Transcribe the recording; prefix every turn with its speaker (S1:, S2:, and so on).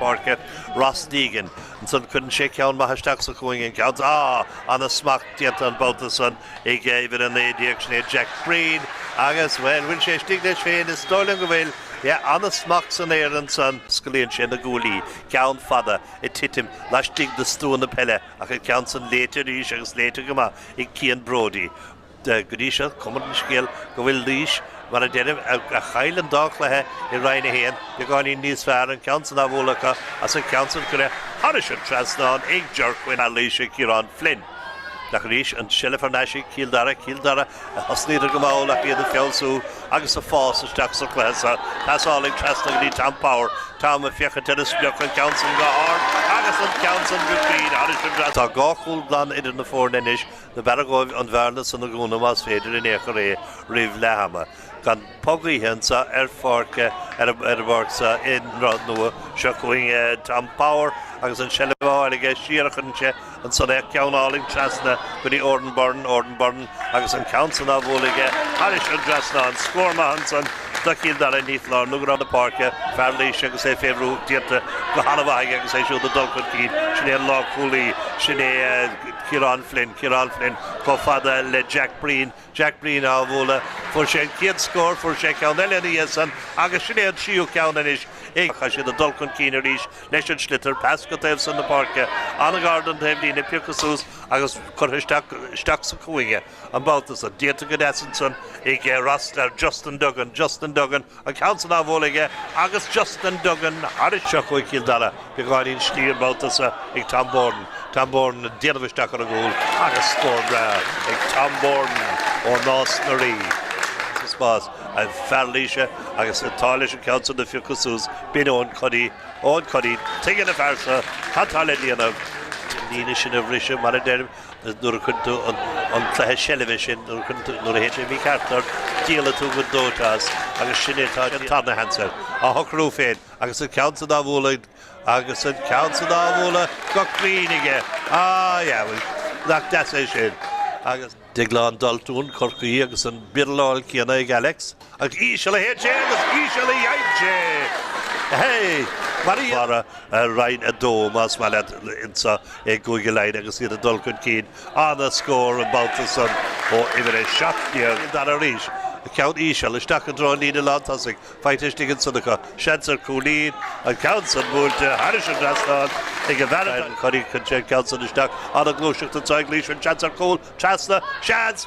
S1: páirce, Ross Deegan. Ansan cuireann sé ceann maith isteach sa chúinne an ceann. Á! Ana-smacht déanta an babhta san ag uimhir a naoi déag, sin é Jack Breen, agus, bhuel, bhfuil sé thuig leis féin? Is dóigh liom go bhfuil. Yeah, ana-smacht san aer ansan. Scaoileann sé na guaillí, ceann fada ag titim laistigh de stua na peile, ach an ceann san léite arís agus léite go maith ag Cian Brodie. Go dtí seo cuma ar an scéal go bhfuil Laois, mar a deirim, a chaill an dá chluiche i Roinn 1, beagáinín níos fearr, an ceann san á bhualadh acu agus an gceann san curtha thairis an trasnán ag Ger Quinn. Fear Laoise, Ciarán Flynn. Ach arís an tseilbh thar n-ais ag Cill Dara, Cill Dara a thosnaíodar go mall ach iad ag feabhsú agus ag fás isteach sa chluiche seo. Pasálann trasna go dtí Tom Power, Tom ag féachaint ar an sprioc, an ceann san go hard agus an ceann san go cruinn thairis an trasnán. Tá dhá chúl glan idir na foirne anois Nárbh fhearra dhóibh an bhearna san a dhúnadh más féidir in aon chor é roimh leath ama. Comh-phocaíocht anso ar pháirc, ar an bpáirc seo i nDroichead Nua seo chugainn, Tom Power agus an tseilbh á fháil aige siar a chuireann sé ansan é, ceann álainn trasna go dtí Oran Byrne, Oran Byrne agus an ceann san á bhualadh aige thairis an dtrasnán. Scór maith ansan do Chill Dara i bhfíorlár, i ngar do lár na páirce, fear Laoise agus é fé bhrú, díonta go han-mhaith aige agus é siúd ag dul chun cinn. Sin é an lánchúlaí, sin é. Ciarán Flynn, Ciarán Flynn chomh fada le Jack Breen, Jack Breen á bhualadh, fuair sé an chéad scór, fuair sé ceann eile ina dhiaidh san agus sin é an tríú ceann anois ag, tá siad ag dul chun cinn arís leis an sliotar, pas go taobh san na páirce, an-ghar don taobhlíne, pioctha suas agus curtha isteach, isteach sa chúinne an babhta san, déanta go deas ansan ag Ross, chuig, Justin Duggan, Justin Duggan, an ceann san á bhualadh aige agus Justin Duggan arís. Seo chugainn Cill Dara, beagáinín slí an babhta so ag Tom Bourne, Tom Bourne ag déanamh isteach ar an gcúl agus scór breá ag Tom Bourne ó Nás na Rí spás. An fear Laoise agus an t-ádh leis an ceann san a phiocadh suas, b'in Eoin Cody, Eoin Cody, tuigeann an fear so, cad tá le déanamh? an líne sin a bhriseadh, mar a deirim. Nuair a imríonn tú an cluiche seilbhe sin, nuair a chun tú, nuair a théann sé mícheart ort, díolann tú go dóite as agus sin é atá an tarna Hensey á shocrú féin agus an ceann san á bhualadh agus an ceann san á bhualadh go cruinn aige. Á, yeah, bhuel, nach deas é sin? Agus. Déaglán Daltún Chorcaí agus an birláil céanna ag Alex. Íseal a théann sé agus íseal a dhéanann sé. Hé! Mar a deirim, Roinn 2, más maith leat, insa i gCúige Laighean agus iad ag dul chun cinn an-scór an babhta san ó uimhir a seacht déag an dara arís. Ceann íseal, isteach i dtreo an líne lántosaigh, faighte istigh ansan acu. Seans ar cúilín. An ceann san buailte thairis an trasnán ag an bhfear atá ag cur iachaill. Cuireann sé an ceann san isteach, an-ghluaiseacht anso ag Laois. An seans ar chúl? Trasna? Seans!